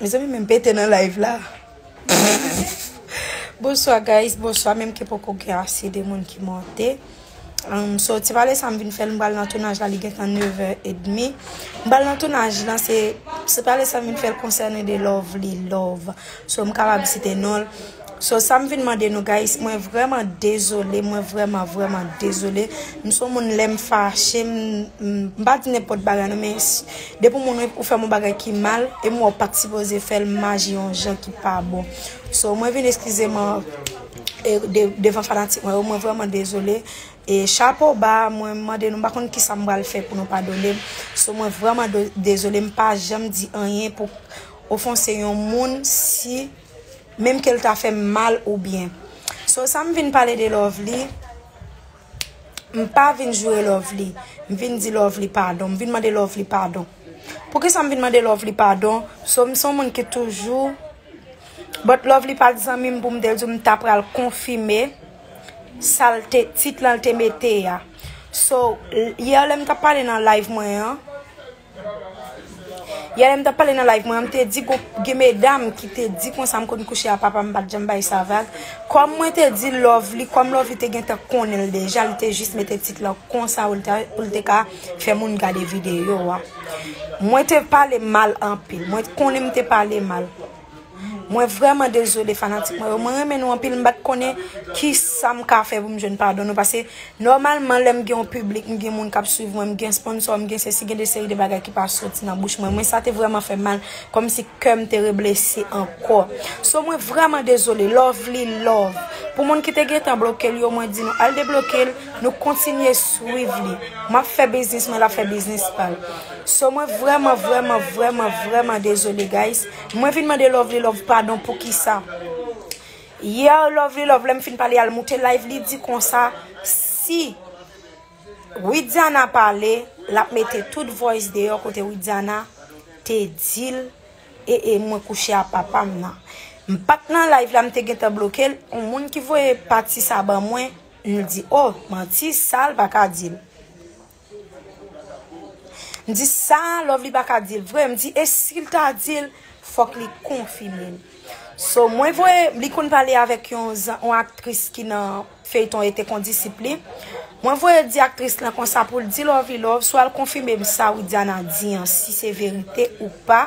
Mezanmi men pete nan live la. Bonswa guys, bonswa menm ke poko gen ase de moun ki monte. Um, so ti pale sa m vin fèl m bal nan tounaj la li gen tan 9h30. M bal nan tounaj la se se pale sa m vin fèl konsènen de Lovely Love. So m kapab site nonl. So sam vin mande nou guys mwen vreman dezole mwen vreman vreman dezole m son moun lem fache m m pa di nenpot bagay non men depi moun ou fem yon bagay ki mal e m wè w pat sipoze fel m aji yon jan ki pa bon so mwen vin eskize m devan fanatik mwen yo mwen vreman dezole e chapo ba mwen mande nou m pa konn kisa m pral fè pou nou padone m so mwen vreman dezole m pa janm di anyen pou ofonse yon moun si menm kel ta fèm mal ou byen so sam vin pale de lovely m pa vin joure lovely m vin di lovely padon m vin mande lovely padon poukisa m vin mande lovely padon so m son moun ki toujou but lovely pat zanmim poum te diw m ta pral konfime sal te tit lan te mete a so yè lèm tap pale nan live mwen an Yè lèm tap pale nan live mwen an mte di gon gen medam ki te di konsa m konn kouche a papam m pat janm bay sa vag kòm mwen te di lovely kòm lovely te gentan konnenl deja li te jis mete tit lan konsa poul te ka fè moun gade video a mwen te pale mal anpil mwen konnen m te pale mal. Mwen vrèman dezole fanatik mwen yo, mwen renmen nou anpil m pat konnen kisam ka fè pou m jwenn padon nou pase nòmalman lèm gen yon piblik m gen moun kap swiv mwen m gen sponsò m gen sesi gen de seri de bagay ki pa soti nan bouch mwen mwen sa te vrèman fèm mal kòmsi kèm te reblese ankò so mwen vrèman dezole lovely love pou moun ki te gentan bloke l yo mwen di nou al debloke l nou kontinye swiv li map fè biznis mwen lap fè biznis pal so mwen vrèman vrèman vrèman vrèman dezole guys. Mwen vin mande lovely love padon poukisa Hier lovely love lèm fin pale al moute live li di konsa si Widiana pale lap mete tout voice deyò kote Widiana te dil ee mwen kouche a papam nan mpat nan live la mte gentan blokel on moun ki voye pati sa ban mwen mdi oh manti sal paka dil. M di sa Lovely pa ka dil vre, m di e sil ta dil fòk li konfime l. So mwen voye, li konn pale avèk yon aktris ki nan feyton e te kondisip li. Mwen voye di aktris lan konsa pou l di Lovely love swa l konfime m sa Widiana di an si se verite ou pa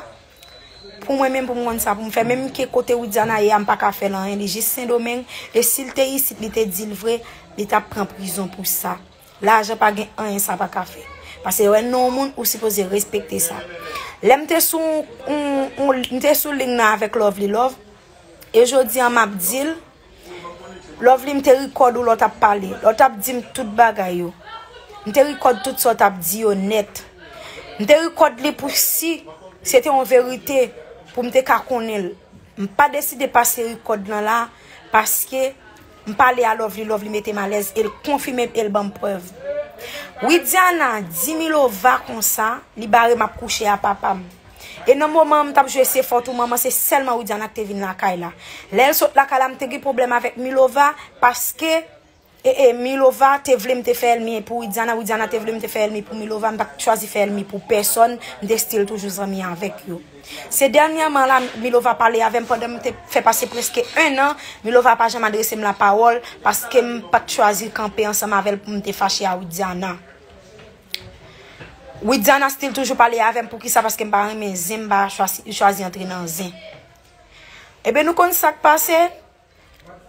pou mwen menm pou m konn sa pou m fè. Menm ke kote Widiana ye a m pa ka fè l anyen li jis sendomeng e si l te isit li te dil vre li tap pran prizon pou sa. Lajan pa gen anyen sa pa ka fè. Pase yo wè non w moun ou sipoze respekte sa. Lè m te sou m te sou ling nan avèk Lovely Love e jodi an m ap di l Lovely m te rikòd ou lè w t ap pale, lè w t ap di m tout bagay yo. M te rikòd tout sa w t ap di yo nèt. M te rikòd li pou si se te yon verite pou m te ka konnen l. M pa deside pase rikòd lan la paske. M pale a lovely lovely metem alez el konfimem el banm prev widiana di milova konsa li barem ap kouche a papam e nan moman m tap jwe se fot ou manman se selman widiana ki te vin lakay la lel sot lakay la m te gen problem avek milova paske ee milova te vle m te fe elmi pou widiana widiana te vle m te fe elmi pou milova m pat chwazi fe elmi pou peson m te stil toujou zanmi avek yo. Se dènyèman la Milova pale avè m pandan m te fè pase prèske 1 an Milova pa janm adrese m lapawòl paske m pa t chwazi kanpe ansanm avè l pou m te fache a Widiana Widiana still toujou pale avè m poukisa paske m pa renmen zen m pa chwazi antre nan zen Ebyen nou konn sa k pase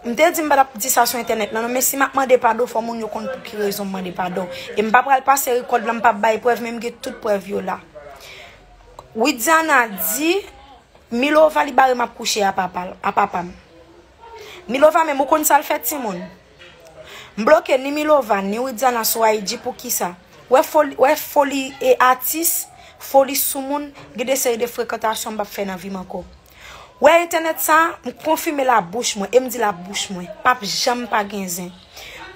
M te di m pa t ap di sa sou entènèt la non, men si m ap mande padon fò moun yo konn pou ki rezon m mande padon. E m pa pral pase rekòd la, m pa p bay prèv men m gen tout prèv yo la. Widiana di Milova li bare m ap kouche a papa l, a papa m. Milova menm ou konn sa l fè timoun? M bloke ni Milova ni Widiana sou IG pou ki sa? Wè foli, wè foli e atis, foli soumoun, gen de seri de frekantasyon m p ap fè nan vi m ankò. Wè entènèt sa, m konfime l a bouch mwen e m di l a bouch mwen, pa p janm pa gen zen.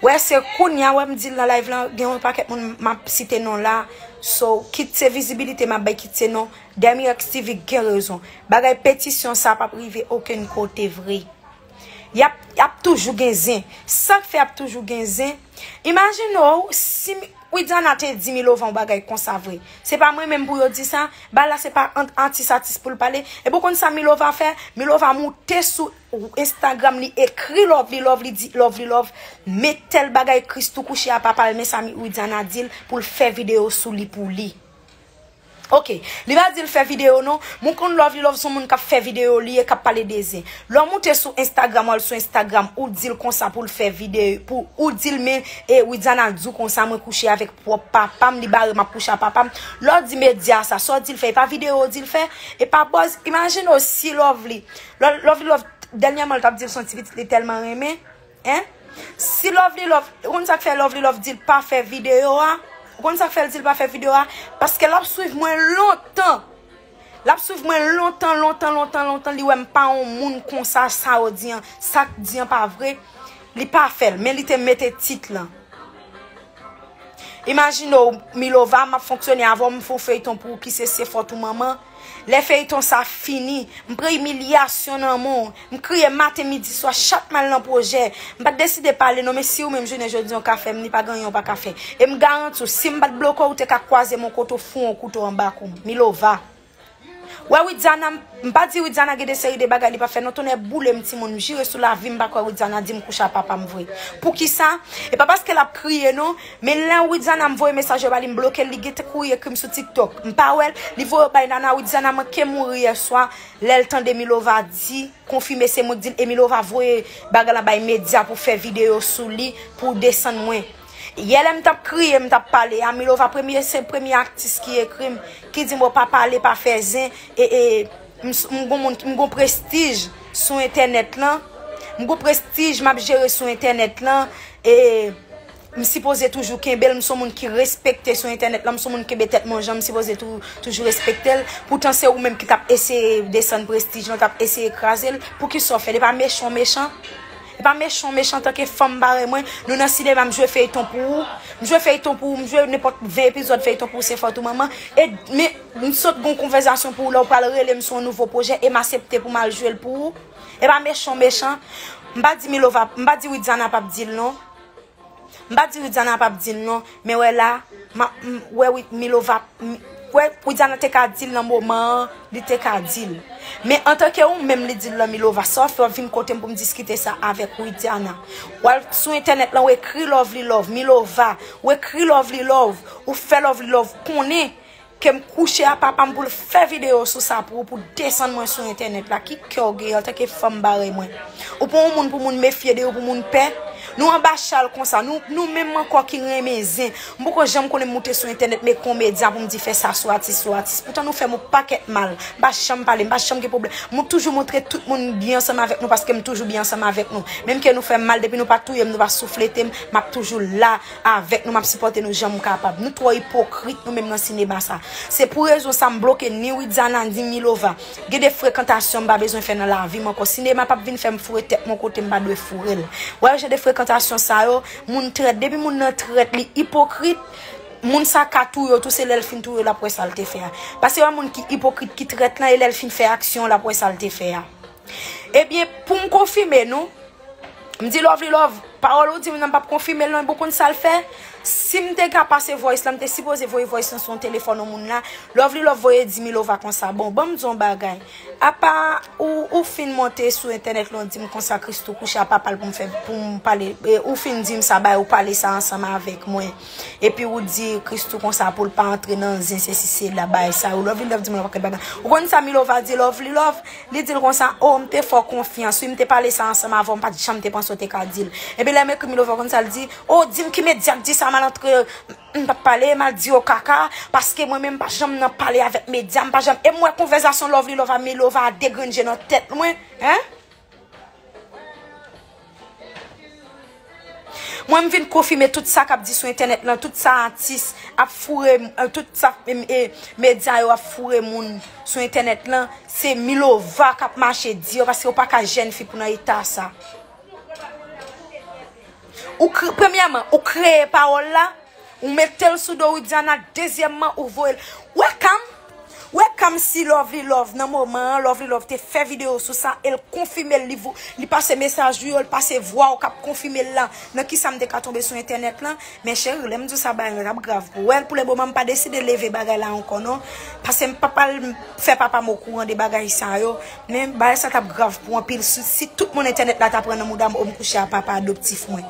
Wè se kounya wè m di l nan live lan, gen yon pakèt moun m ap site non la, so kit se vizibilite m ap bay kit se non, Demirex TV gen rezon. Bagay petisyon sa pa p rive okenn kote vre. Y ap toujou gen zen. Sa k fè y ap toujou gen zen. Imagine w si Widiana te di Milovan yon bagay konsa vre. Se pa mwen menm pou yo di sa, bal la se pa ant atis atis pou l pale. Epi w konn sa Milova fè, Milova moute sou Instagram li ekri Lovely love li di Lovely love me tèl bagay Christoo kouche a papa l men sa Widiana di l pou l fè video sou li pou li. Ok li pa dil fè video non. Mwen konn lovely love son moun kap fè video li ye kap pale de zen. Lè w moute sou Instagram wal sou Instagram ou dil konsa poul fè vide pou ou dil men e Widiana diw konsa mwen kouche avèk pwòp papam li barem ap kouche a papam lè w di media sa sa w dil fè e pa video w dil fè e pa buzz imagine w si lovely love love dènyèman l tap dil son ti pitit li tèlman renmen Hein si lovely love ou konn sak fè lovely love dil pa fè video a ou konn sak fèl dil pa fè video a paske lap swiv mwen lontan lap swiv mwen lontan lontan lontan lontan li wèm pa yon moun konsa sa ou di an sak di an pa vre li pa fèl men li te mete tit lan. Imajine w Milova map fonksyone avè w m fon feyton pou ou ki se se fòt ou manman lè feyton sa fini m pran imilyasyon nan men w m kriye maten midi swa chak mal nan pwojè m pat deside pale non men siw menm jounen jodi an ka fè m ni pa gen anyen w paka fè e m garanti w sim pat bloke w ou te ka kwaze m yon kote w foure yon kouto anba kou m Milova. Wè widiana m pa di widiana gen de seri de bagay li pa fè non tonnè boulem timoun m jire sou lavim m pa kwè widiana dim kouche a papam vre poukisa e pa paske lap kriye non men lè widiana m voye mesaj yo ba li m blokel li gentn kouri ekrim sou tiktok m pa wèl li voye yo bay nana widiana manke mouri yèswa lèl tande milova di konfime se mwen k dil e milova voye bagay la bay media pou fè video sou li pou desann mwen. Yè lèm tap kriye m tap pale a milova premye se premye atis ki ekrim ki dim ou pa pale pa fè zen e e m gon moun m gon prestij sou entènèt lan m gon prestij map jere sou entènèt lan e m sipoze toujou kenbel m son moun ki respekte sou entènèt lan m son moun kenbe tèt mwen jan m sipoze toujou respektel poutan se ou menm ki tap eseye desann prestij lan tap eseye krazel poukisa w fèl e pa mechan w mechan Epa mechan w mechan antanke fanm parèy mwen, nou nan sinema m jwe feyton pou ou, m jwe feyton pou ou, m jwe nenpòt 20 epizòd feyton pou ou se fòt ou manman, e men m sot gon konvèzasyon pou ou lè w pral rele m sou yon nouvo pwojè e m asepte pou m al jwe l pou ou. Epa mechan w mechan, m pa di Milova, m pa di Widiana pap di l non. M pa di Widiana pap dil non, men wè la map wè Wid Milova wè Widiana te ka dil nan moman an li te ka dil. Men antanke ou menm li dil lan Milova sa wap fè wap vin kotem poum diskite sa avèk Widiana. Wal sou entènèt lan ou ekri lovely love Milova ou ekri lovely love ou fè lovely love konnen Kem kouche a papam poul fè video sou sa pou ou pou desann mwen sou entènèt la ki kè ou gen antanke fanm parèy mwen ou pa yon moun pou moun mefye de ou pou moun pè nou anba chal konsa nou nou menm ankò ki renmen zen m poko janm konnen moute sou entènèt meke yon medya pou m di fè sa sou atis sou atis poutan nou fèm yon pakèt mal m pa janm pale m pa janm gen pwoblèm m toujou montre tout moun m byen ansanm avèk nou paske m toujou byen ansanm avèk nou menm ke nou fèm mal depi nou pa touyem nou pa soufletem map toujou la avèk nou map sipòte nou janm kapab nou twò ipokrit nou menm nan sinema sa se pou rezon sa m bloke ni widiana ni milova gen de frekantasyon m pa bezwen fè nan lavi m ankò sinema pap vin fèm foure tèt m yon kote m pa dwe foure l wè jan de frekantasyon sa yo moun trèt depi moun nan trèt li ipokrit moun sa ka touye w tou se lèl fin touye w lap wè sa l te fè a pase wè moun ki ipokrit ki trèt lan e lèl fin fè aksyon lap wè sa l te fè a ebyen pou m konfime nou. M di lovely love, pawòl ou dim nan m pap konfimel non e bon konn sal fè, sim te ka pase voice la m te sipoze voye voice lan sou yon telefòn yon moun la, lovely love voye di milova konsa bon banm di w yon bagay apa ou ou fin monte sou entènèt la w dim konsa christoo kouche a papal poum fè poum pale ou fin dim sa bay ou pale sa ansanm avèk mwen epi ou di christoo konsa poul pa antre nan zen sesi sela bagay sa yo lovely love dim nan pa kèt bagay ou konn sa milova di lovely love Li di l konsa, O, m te fè w konfyans, wi, m te pale sa ansanm avè w, m pa t janm te panse w te ka di l. Epi lè m ekri Milovan konn sa l di, O, di m ki medya k di sa malantre yo m pa t pale, m al di yo kaka, paske mwen menm m pa janm nan pale avèk medya, m pa janm, e m wè konvèzasyon Lovely Love a Milova a degrenn je nan tèt mwen, hein? Mwen m vin konfime tout sa kap di sou entènèt lan, tout sa atis ap foure, tout sa medya yo ap foure moun sou entènèt lan, se Milova kap mache di yo paske ou pa ka jèn fi pou nan eta sa. Premyèman, ou kreye pawòl la, Ou metel sou do widiana dezyèmman ou voyel webcam webcam si lovely love nan moman an lovely love te fè video sou sa el konfimel li vo li pase mesaj ou yo li pase vwaw kap konfimel la nan kisam te ka tonbe sou entènèt lan men cheri lèm diw sa bagay la tap grav pou wèl pou le moman mpa deside leve bagay la ankò non pasem pap al fè papam okouran de bagay sa yo men bagay sa tap grav pou anpil si tout moun entènèt la ta pran nan moudam om kouche a papa adoptif mwen.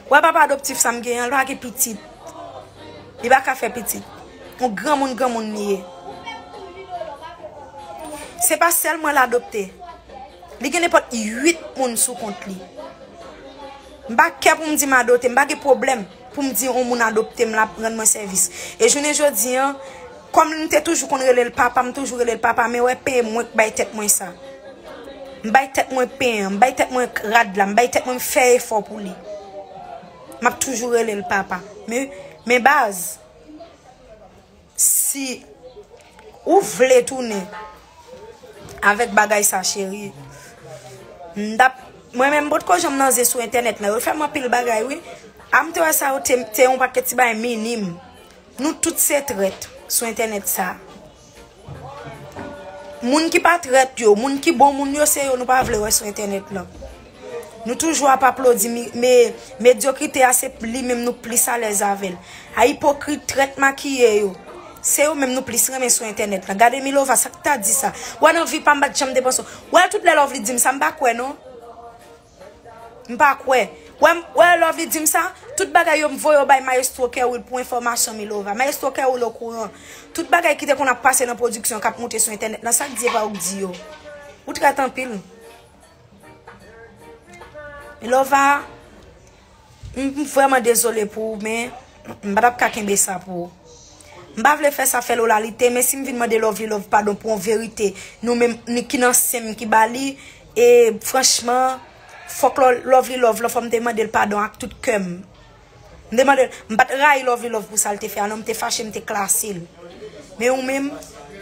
Wè papa adoptif sa m gen an, l pa gen pitit. Li pa ka fè pitit. On granmoun granmoun li ye. Se pa sèl mwen l adopte. Li gen nenpòt 8 moun sou kont li. M pa kè pou m di m adote, m pa gen pwoblèm pou m di on moun adopte m l ap rann mwen sèvis. E jounen jodi an. Kòm m te toujou konn rele l papa, m toujou rele l papa, men wè pen mwen k bay tèt mwen sa. M bay tèt mwen pen an, m bay tèt mwen rad la, m bay tèt mwen m fè efò pou li. M ap toujou rele l papa. Men, men baz, si ou vle tounen avèk bagay sa cheri, m t ap, mwen menm m pot ko janm nan zen sou entènèt nan, yo fè m anpil bagay wi. A m te wè sa yo te yon pakèt ti bagay minim. Nou tout se trèt sou entènèt sa. Moun ki pa trèt yo, moun ki bon moun yo se yo nou pa vle wè sou entènèt lan. Nou toujou ap aplodi medyokrite a se li menm nou plis alèz avè l. A ipokrit, trèt makiye yo, se yo menm nou plis renmen sou entènèt lan. Gade Milova sa k ta di sa. Wè nan vi pa m pa t janm depanse w. Wè l tout lè Lovely di m sa m pa kwè non. M pa kwè. Wè m, wè Lòvi di m sa? Tout bagay yo m voye yo bay Mayestwo Kerwill pou enfòmasyon Milova. Mayestwo Kerwill okouran. Tout bagay ki te konn ap pase nan pwodiksyon k ap moute sou entènèt lan, sa k di e pa ou k di yo. Ou trèt anpil. Milova. M vrèman dezole pou ou men m pa tap ka kenbe sa pou ou. M pa vle fè sa fè Lola li te men si m vin mande Lovely Love padon pou yon verite nou menm ki nan sen m ki ba li e franchman fòk Lovely Love lan fò m te mande l padon ak tout kè m. M te mande l, m pa t rayi Lovely Love pou sa l te fè a non m te fache m te klase l. Men ou menm,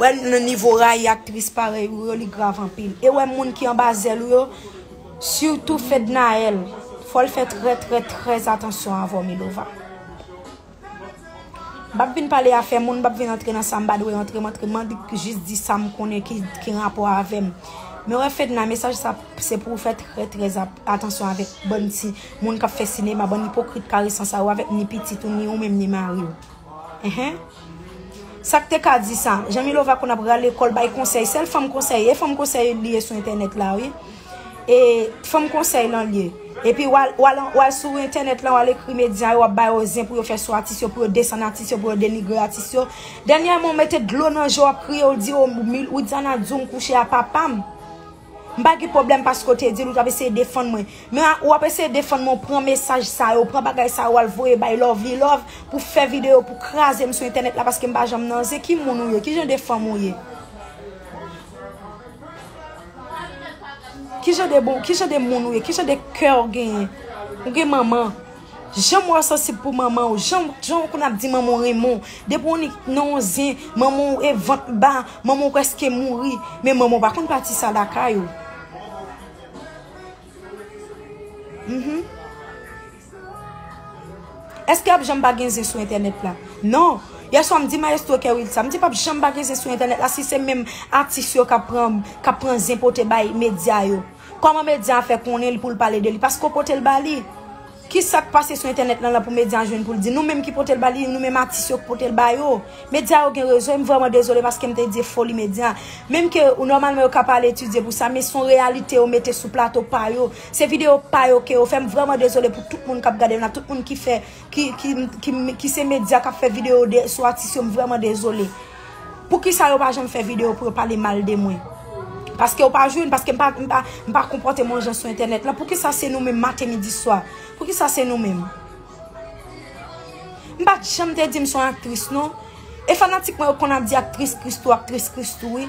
wè nan nivo rayi aktris parèy ou yo li grav anpil. E wè moun ki anba zèl ou yo. Surtout fednaelle fòl fè trè trè trè atansyon avèw milova Mpap vin pale afè moun mpap vin antre nan sam pa dwe antre map jis di sam konnen ki rapò avèm men wè fedna mesaj sa se pouw fè trè trè atansyon avèk bann ti moun kap fè sinema bann ipokrit karesan sa yo avèk ni pitit ou ni ou menm ni mariw. Sak te ka di sa. Jan Milova konn ap rale kòl bay konsèy sèl fanm konsèy e fanm konsèy li ye sou entènèt la wi e fanm konsèy lan li ye epi wal sou entènèt lan wal ekri medya yo wap ba yo zen pou yo fè sou atis yo pou yo desann atis yo pou yo denigre atis yo dènyèman ou mete dlo nan je w ap kriye ou di Widiana di w m kouche a papam. M pa gen pwoblèm paske w te di l ou t ap eseye defann mwen. Men ou ap eseye defann mwen ou pran mesaj sa yo, ou pran bagay sa yo al voye bay Lovlilove pou fè videyo pou kraze m sou entènèt la paske m pa janm nan zen. Ki moun ou ye? Ki jan de fanm ou ye? Ki jan de moun ou ye? Ki jan de kè ou genyen? Ou gen manman? Janm wè w sansib pou manman w Janm w konn ap di manman w renmen w Depi w nik nan yon zen Manman w e vant ba Manman w preske mouri Men manman w pa konn pati sa lakay ou Eske ap janm pa gen zen sou entènèt la Non Yèswa m di mayestwo Kerwill sa M di pap janm pa gen zen sou entènèt la Si se menm atis yo k ap pran zen pote bay medya yo Koman media a fè konnen li poul pale de li paske ou potel ba li kisak pase sou entènèt lan la pou media a jwenn poul di nou menm ki potel ba li nou menm atis yo ki potel ba yo media yo gen rezon em vrèman dezole paskem te di e foli media menm ke ou nòmalman yo ka pa al etidye pou sa men son reyalite yo mete sou plato pa yo se video pa yo ke yo fè m vrèman dezole pou tout moun kap gadem la tout moun ki fè ki se media kap fè video de sou atis yo m vrèman dezole. Poukisa yo pa janm fè video pou yo pale mal de mwen? Paske ou pa jwenn, paske m pa, m pa, m pa konpòte m yon jan sou entènèt lan, poukisa se nou menm maten midi swa? Poukisa se nou menm? M pat janm te di m son aktris non. E fanatik mwen yo konn ap di aktris Christoo, aktris Christoo wi.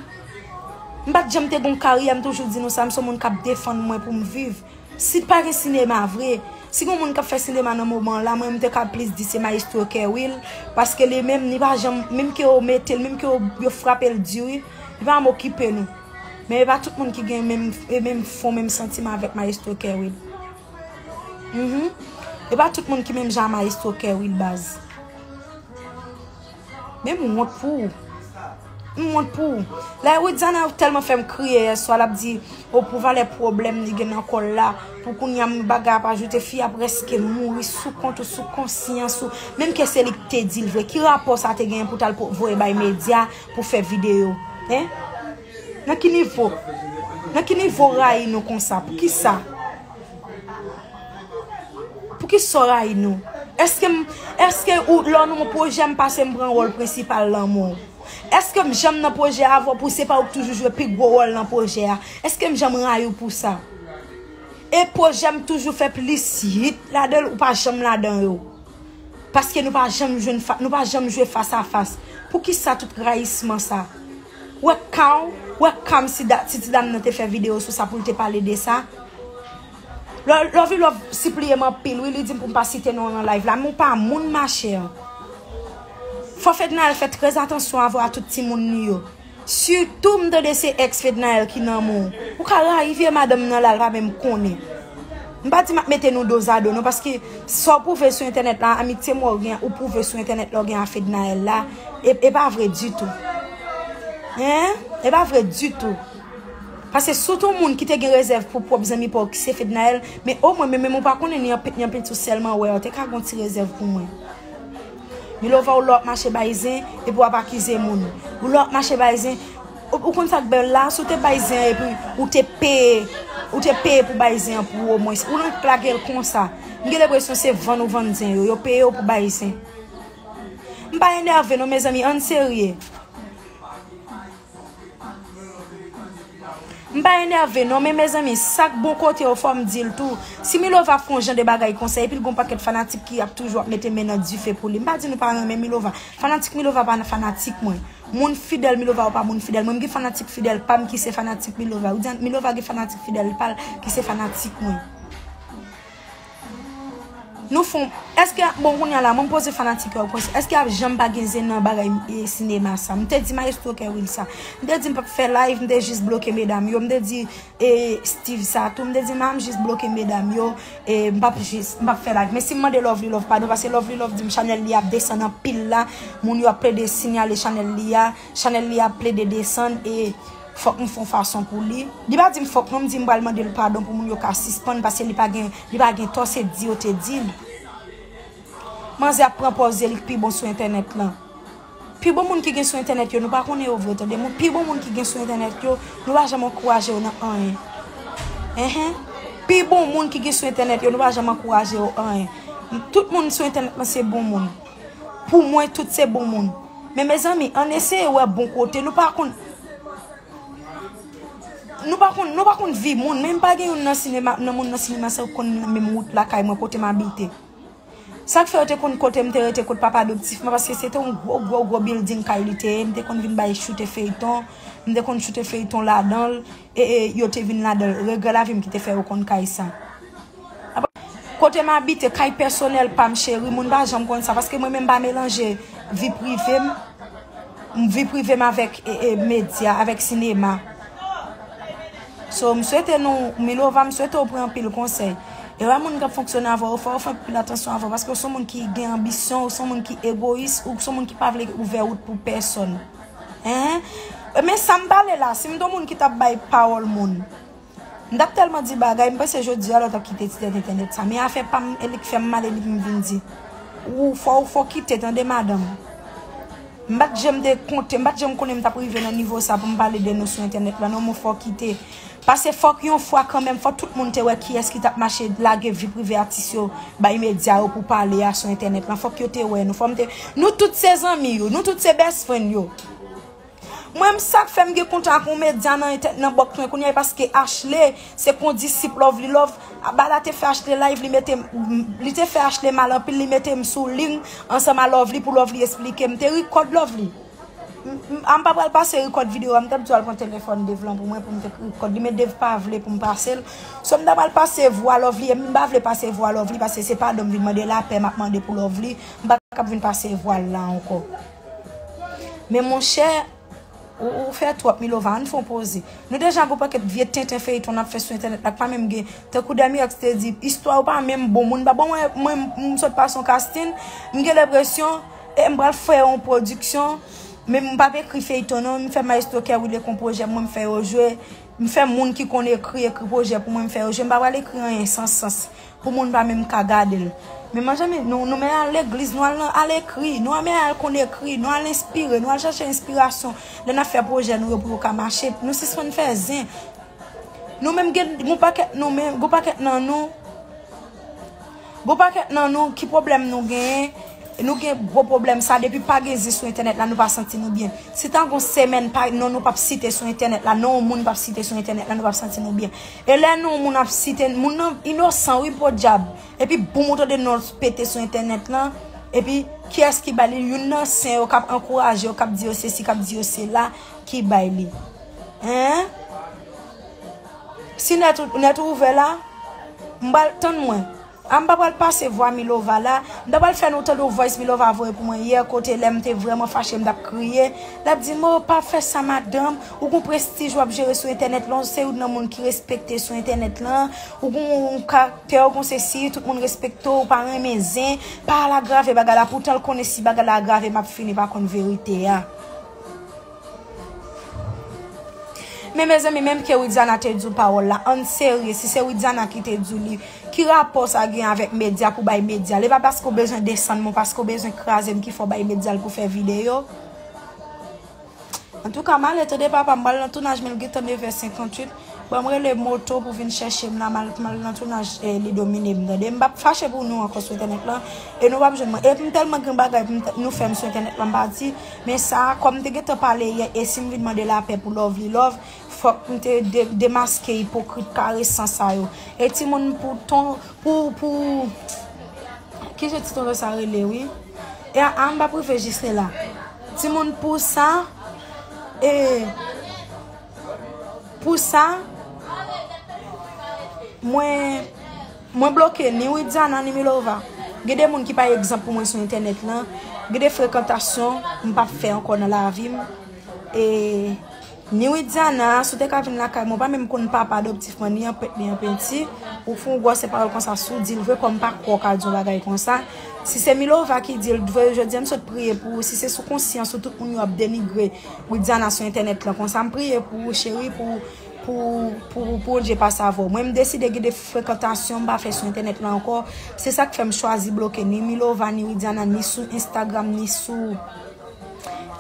M pat janm te gon karyè, m toujou di nou sa, m son moun k ap defann mwen pou m viv. Si t pa gen sinema vre, si gon moun kap fè sinema nan moman la mwen m te kab plis di se maestro Kerwill paske li menm li pa janm menm ke yo mete l menm ke yo frape l di wi li pa janm okipe nou men e pa tout moun ki gen menm e menm fon menm santiman avèk maestro Kerwill humm e pa tout moun ki menm jan a maestro Kerwill baz. Men m wont pou ou. M wont pou ou. Lè Widiana tèlman fè m kriye yè swa l ap di o pou valè pwoblèm li gen nan kò l la pou kounye a m bagay ap ajoute fi a prèske mouri sou kont ou sou konsyans ou menm ke se li ki te di l vre ki rapò sa te genyen pou w t al voye bay medya pou fè videyo hein. Nan ki nivo? Nan ki nivo w rayi nou konsa? Pou ki sa? Pou ki sa w rayi nou? Eske m, eske ou lè w nan yon pwojè m pase m pran wòl prensipal lanmou w? Eske m janm nan pwojè avè w pou se pa ou k toujou jwe pi gwo wòl nan pwojè a? Eske m janm rayi w pou sa? E pwojè m toujou fè plis hit ladan l ou pa janm ladan yo? Paske nou pa janm jwenn, nou pa janm jwe fas a fas. Pou ki sa tout rayisman sa? Wè kaw, wè kam si da, si ti dam nan te fè video sou sa poul te pale de sa. Lò, Lovilove sipliyem anpil wi li dim poum pa site nonl nan live la men ou pa moun ma chère. Fò Fednaelle fè trè atansyon avw a tout timoun li yo. Sitou m tande se ex Fednaelle ki nan menw. Ou ka rayi vye madanm nan la li pa menm konnen. M pa di m ap mete nou dozado non paske sa w pwouve sou entènèt la, amitye mwen w gen ak ou pwouve sou entènèt la w gen ak Fednaelle la e pa vre ditou. Hein? E pa vre ditou. Paske si w te yon moun ki te gen rezèv pou pwòp zanmi pa w ki se Fednaelle, men omwen men menm ou pa konnen ni anpil ni anpil ti w sèlman wè, ou te ka gen yon ti rezèv pou mwen. Milova ou la w ap mache bay zen epi w ap akize moun. Ou la w ap mache bay zen. Ou konn sak bel la si w te bay zen an epi ou te peye ou te peye pou bay zen an pou omwens ou nan lage l konsa m gen lepresyon se vann ou vann zen yo yo peye w pou bay zen m pa enève non mezanmi ann serye m pa enève non men mezanmi sak bon kote yo fò m di l tou si milova fon jan de bagay konsa epi l gon pakèt fanatik ki ap toujou ap mete men nan dife pou li m pa di nou pa renmen milova fanatik milova pa nan fanatik mwen. Moun fidèl milova ou pa moun fidèl mwen m gen fanatik fidèl pam ki se fanatik milova ou di an milova gen fanatik fidèl pal ki se fanatik mwen nou fon eske bon kounya la mwen m poze fanatik yo kwen sa eske ap janm pa gen zen nan bagay sinema sa m te di maestro kerwil sa m te di m pap fè live m te jis bloke medam yo m te di. E Steeve sa tou m te di ma m jis bloke medam yo e m pap jis m pap fè live men si m mande Lovely Love padon paske Lovely Love di m chanèl li ap desann anpil la moun yo ap plede sinyale chanèl li a chanèl li ap plede desann e fòk m fon fason pou li li pa di m fòk non m di m pral mande l padon pou moun yo ka sispann paske li pa gen li pa gen tò se di yo te di l manzè ap pran pòz li k pi bon sou entènèt lan. Pi bon moun ki gen sou entènèt yo nou pa konnen yo vre tande moun pi bon moun ki gen sou entènèt yo nou pa janm ankouraje yo nan anyen enhen pi bon moun ki gen sou entènèt yo nou pa janm ankouraje yo anyen tout moun sou entènèt lan se bon moun pou mwen tout se bon moun men mezanmi ann eseye wè bon kote nou pa konn nou pa konn nou pa konn vi moun menm pa gen youn nan sinema nan moun nan sinema sa yo konn menm wout lakay mwen kote m abite. Sa k fè yo te konn kote m te rete kot papa adoptif mwen paske se te yon gwo gwo gwo bilding kay li te ye m te konn vin bay choute feyton m te konn choute feyton ladan l e e yo te vin ladan l regrè lavi m ki te fè yo konn kay sa kote m abite kay pèsonèl pa m cheri moun pa janm konn sa paske mwen menm m pa melanje vi prive m vi prive m avèk e e medya avèk sinema. So m swete nou Milova m swete w pran anpil konsèy e wè moun kap fonksyone avèw ou fè ou fè anpil atansyon avèw paske ou son moun ki gen anbisyon ou son moun ki egoyis ou son moun ki pa vle ouvè wout pou pèsòn enhen men sam pale la si m t on moun ki tap bay pawòl moun m tap tèlman di bagay m panse jodi a lè w tap kite ti tèt entènèt sa men afè pam e lik fèm mal e li pou m vin di ou fò ou fò kite tande madanm. M pat janm te konte, m pat janm konnen m tap rive nan nivo sa pou m pale de nou sou entènèt lan non mon fò kite pase fòk yon fwa kanmenm fòk tout moun te wè kiyès ki tap mache lage vi prive atis yo bay medya yo pou pale a sou entènèt lan fòk yo te wè nou fò m te nou tout se zanmi yo nou tout se best friend yo mwen m sak fèm gen kontak yon medya nan bòk mwen kounya e paske Ashley. Se kondisip lovely love a bala te fè achte live li mete li te fè achte mal anpil li mete m sou ling ansanm a lovely pou lovely esplike m te ri kòd lovely a m pa pral pase ri kòd video a m tap di w al pran telefòn Dave lan pou mwen pou m fèk ri kòd li men Dave pa vle pou m pase l so m ta pral pase vwa lovely e m pa vle pase vwa lovely paske se padon m vin mande lapè map mande pou lovely m pa tap vin pase vwa l la ankò men monchè Ou fè twòp Milova ann fon poze. Nou deja gon pakèt vye tenten feyton nap fè sou entènèt la k pa menm gen tankou Damirox te di istwa yo pa menm bon moun pa bon mwen m sot pase yon casting m gen lepresyon e m pral fè yon pwodiksyon men m pap ekri feyton non m fè maestro Kerwile kon pwojè pou mwen m fè yo jwe m fè moun ki konn ekri ekri pwojè pou mwen m fè yo jwe m pa pral ekri anyen san sans. Pou moun pa menm ka gadel. Men manzanmi nou nou men al legliz nou al nan al ekri nou al men al konn ekri nou al enspire nou al chache enspirasyon lè nap fè projè nou yo pou yo ka mache nou sispann fè zen nou menm gen gon pakèt nou menm gon pakèt nan nou gon pakèt nan nou ki problèm nou genyen nou gen gwo problèm sa depi pa gen zen sou entènèt la nou pa santi nou byen si ta gon semèn pa non nou pap site sou entènèt la non moun pap site sou entènèt la nou pap santi nou byen. E lè nou moun ap site moun nan inosan wi podyab epi boom ou tande nonl pete sou entènèt lan epi kiyès ki bay li youn nan sen yo kap ankouraje yo kap di yo sesi kap di yo sela ki bay li hein si nèt ou ouvè la m pral tann mwen. Ah m pa pral pase vwa Milova la, m ta pral fè nou tande yon voice Milova voye pou mwen yè kote lèm te vrèman fache m tap kriye, lap di m oh pa fè sa madanm, ou gon prestij wap jere sou entènèt lan, ou se youn nan moun ki respekte sou entènèt lan, ou gon yon karaktè, ou gon sesi, tout moun respekte w, ou pa renmen zen, pa al agrave bagay la, poutan l konnen si bagay la agrave map fini pa konn verite a. Men mezanmi menm ke widiana te diw pawòl la ann serye si se widiana ki te diw li ki rapò sa gen avèk medya pou bay medyal epa paske ou bezwen desann mwen paske ou bezwen krazem ki fè w bay medyal pou fè videyo antouka male tande papam m pral nan tounaj menl gentan 9 è 58. Banm rele moto pou vin chèchem la mal t mal nan tounaj li dominem tande m pap fache pou nou ankò sou entènèt lan e nou pap jwenn mwen epm tèlman gen bagay pou nou fèm sou entènèt lan m pa di men sa kòm te gentan pale yè esim vin mande lapè pou love li love fòk m te demaske ipokrit karesan sa yo e timoun pou ton pou pou kijan ti tonton sa rele wi e aa m pap rive jis la timoun pou sa e. Pou sa, mwen bloke ni Widiana ni Milova. Gen de moun ki pa egzanp pou mwen sou entènèt lan. Gen de frekantasyon m pa fè ankò nan lavi m. E ni Widiana, si w te ka vin lakay mwen, ou pa menm konn papa adoptif mwen, ni an pèt ni an penti. Ou fè yon gwòse pawòl konsa si w di l vre kòm m pa kwè w ka di yon bagay konsa. Si se Milova ki di l vre, jodi a m sot priye pou ou. Si se sou konsyans ou tout moun yo ap denigre. Widiana sou entènèt lan konsa m priye pou ou cheri pou pou Bondye pa save w mwen m deside gen de frekantasyon m pa fè sou entènèt lan ankò se sak fè m chwazi bloke ni Milova ni Widiana ni sou Instagram ni sou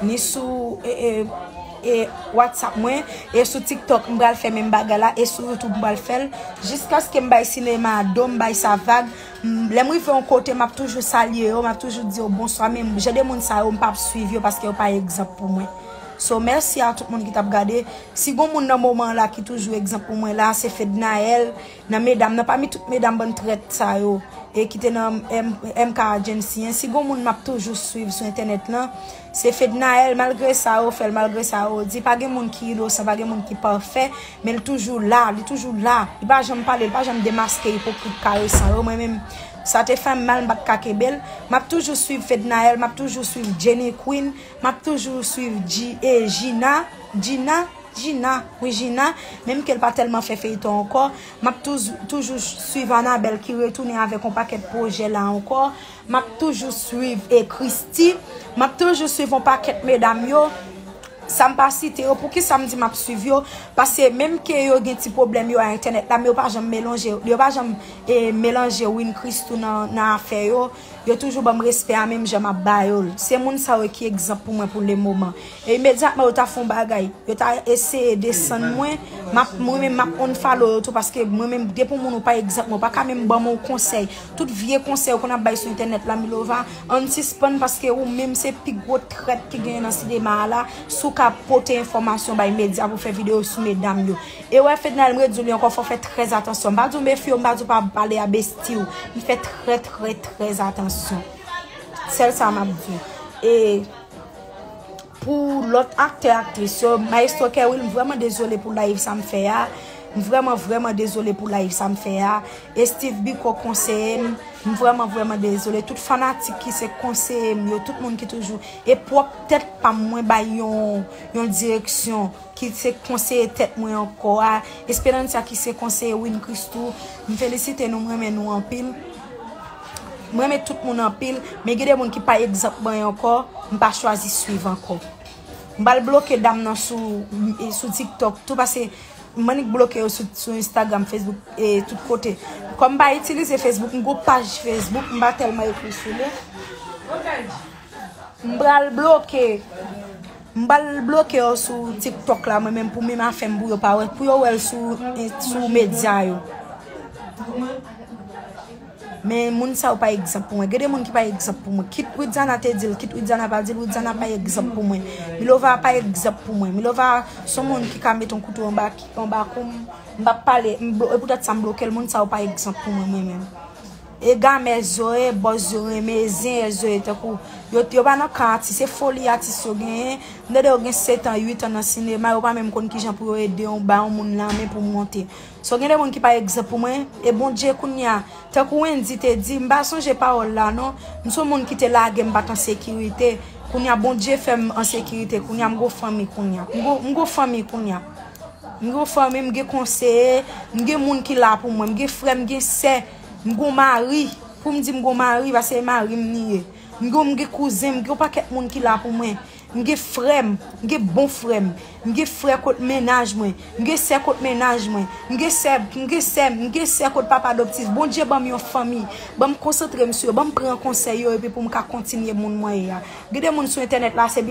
ni sou e WhatsApp mwen e sou TikTok m pral fè menm bagay la e sou YouTube m pral fè l jiskaske m bay sinema a do m bay sa vag. Lèm rive yon kote map toujou salye yo, map toujou di yo bonswa men jan de moun sa yo mpa ap swiv yo paske yo pa egzanp pou mwen. So mèsi a tout moun ki tap gade, si gon moun nan moman an la ki toujou egzanp pou mwen la se Fednaelle nan medam nan pami tout medam bann trèt sa yo e ki te nan MK agency an, si gon moun map toujou swiv sou entènèt lan. Se Fednaelle malgre sa yo fèl malgre sa yo di pa gen moun ki inosan pa gen moun ki pafè men li toujou la li toujou la li pa janm pale li pa janm demaske ipokrit karesan yo mwen menm sa te fèm mal m pat ka kenbel map toujou swiv Fednaelle map toujou swiv Jenny Queen map toujou swiv Gina Gina Gina wi Gina menm kel pa tèlman fè feyton ankò map toujou swiv Anabelle ki retounen avèk yon pakèt pwojè la ankò. Map toujou swiv e christy. Map toujou swiv yon pakèt medam yo Sam pa site yo poukisam di map swiv yo paske menm ke yo gen ti pwoblèm yo a entènèt la men yo pa janm melonje yo pa janm melanje win christoo nan afè yo yo toujou banm respè a menm jan map ba yol se moun sa yo ki egzanp pou mwen pou le moman e imedyatman yo ta fon bagay yo ta eseye desann mwen mwen menm map unfollow yo tou paske mwen menm depi yon moun ou pa egzanp mwen ou paka menm banm yon konsèy Tout vye konsèy ou konn ap bay sou entènèt la Milova ann sispann paske ou menm se pi gwo trèt ki genyen nan sinema a la si w ka ap pote enfòmasyon bay medya pou fè videyo sou medam yo e wè Fedna m redi w li ankò fò w fè trè atansyon m pa di w mefye w m pa di w pa pale a besti w men fè trè trè trè atansyon sèl sa map di w e. Pou lòt aktè aktris yo Maestro Kerwil m vrèman dezole pou live sa m fè a m vrèman vrèman dezole pou live sa m fè a e Steeve Biko konseye m m vrèman vrèman dezole tout fanatik ki se konseye m yo tout moun ki toujou e pwòp tèt pa m mwen bay yon yon direksyon ki se konseye tèt mwen ankò a Esperanza ki se konseye Win Christoo m felisite nou m renmen nou anpil. M renmen tout moun anpil, men gen de moun ki pa egzanp mwen ankò, m pa chwazi swiv ankò. M pral bloke dam nan sou tiktok tou pase m annik bloke yo sou Instagram, Facebook e tout kote. Kòm m pa itilize Facebook, m gen yon paj Facebook m pa tèlman ekri sou li. M pral bloke. M pral bloke yo sou tiktok la mwen menm pou menm afèm pou yo pa wè pou yo wèl sou sou medya yo men moun sa yo pa egzanp pou mwen gen de moun ki pa egzanp pou mwen kit widiana te dil kit widiana pa dil widiana pa egzanp pou mwen milova pa egzanp pou mwen milova son moun ki ka met yon kouto anba anba koum m pap pale m pou tèt sa m blokel moun sa yo pa egzanp pou mwen menm. E game zoe boss yo renmen e zen e zoe tankou yo yo pa nan kan atis se foli atis yo genyen m tande yo gen 7 ans 8 ans nan sinema yo pa menm konn kijan pou yo ede yon bay yon moun lanmen pou monte so gen de moun ki pa egzanp pou mwen e bondye kounya tankou wendy te di m pa sonje pawòl la non m son moun ki te lage m pat an sekirite kounya bondye fè m an sekirite kounya m gon fanmi kounya m gon fanmi kounya. M gen yon fanmi, m gen konseye, m gen moun ki la pou mwen, m gen frè, m gen sè, m gen yon mari, pou m di m gen yon mari pase e mari m li ye. M gen m gen kouzen, m gen yon pakèt moun ki la pou mwen. M gen frè m, m gen bon frè m, m gen frè kot mennaj mwen, m gen sè kot mennaj mwen, m gen sè, m gen sè, m gen sè kot papa adoptif. Bondye ban m yon fanmi, ban m konsantre m sou yo, ban m pran konsèy yo epi pou m ka kontinye moun mwen ye a. Gen de moun sou entènèt la se biznis.